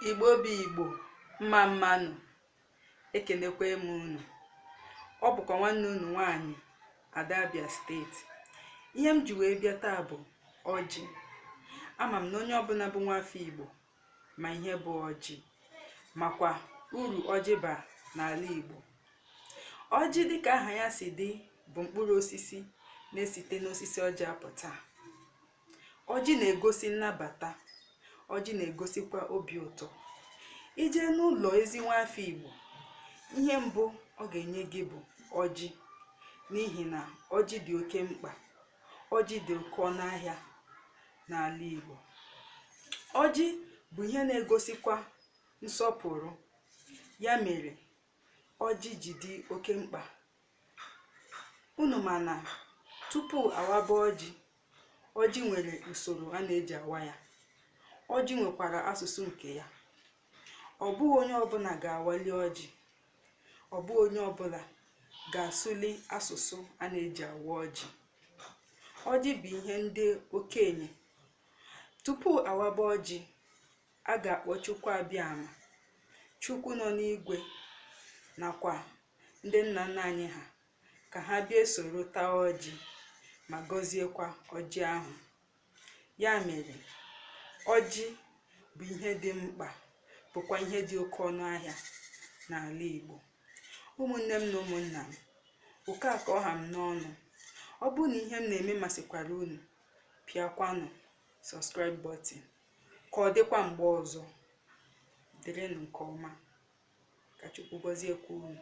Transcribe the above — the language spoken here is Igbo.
igbo bụ igbo mma mma nụ ekenekwa m unu ọ bụkwa nwanne unu nwanyị ada abia steeti ihe m ji wee bịa taa bụ ọjị ama m na onye ọbụla bụ nwafọ igbo ma ihe bụ ọjị makwa uru ọjị ba n'ala igbo ọjị dịka aha ya si dị bụ mkpụrụ osisi na-esite n'osisi ọjị apụta ọjị na-egosi nnabata ọjị na-egosikwa obi ụtọ i jee n'ụlọ ezi nwafọ igbo ihe mbụ ọ ga-enye gị bụ ọjị n'ihi na ọjị dị oke mkpa ọjị dị oke ọnụ ahịa n'ala igbo ọjị bụ ihe na-egosikwa nsọpụrụ ya mere ọjị ji dị oke mkpa unu ma na tupu a waba ọjị Ọjị nwere usoro a na-eji awa ya. Ọjị nwekwara asụsụ nke ya. Ọ bụghị onye ọbụla ga-awali ọjị. Ọ bụghị onye ọbụla ga-asụli asụsụ a na-eji awa ọjị. Ọjị bụ ihe ndị okenye. Tupu a waba ọjị, a ga-akpọ Chukwu Abiama, Chukwu nọ n'igwe nakwa ndị nna nna anyị ha ka ha bịa esoro taa ọjị ma gọziekwa ọjị ahụ ya mere ọjị bụ ihe dị mkpa bụkwa ihe dị oke ọnụ ahịa n'ala Igbo ụmụnne m na ụmụnna m oke a ka ọ ha m n'ọnụ ọ bụrụ na ihe m na-eme masịkwara unu pịakwanụ subscribe button ka ọ dịkwa mgbe ọzọ dịrịnụ nke ọma ka chukwu gọziekwa unu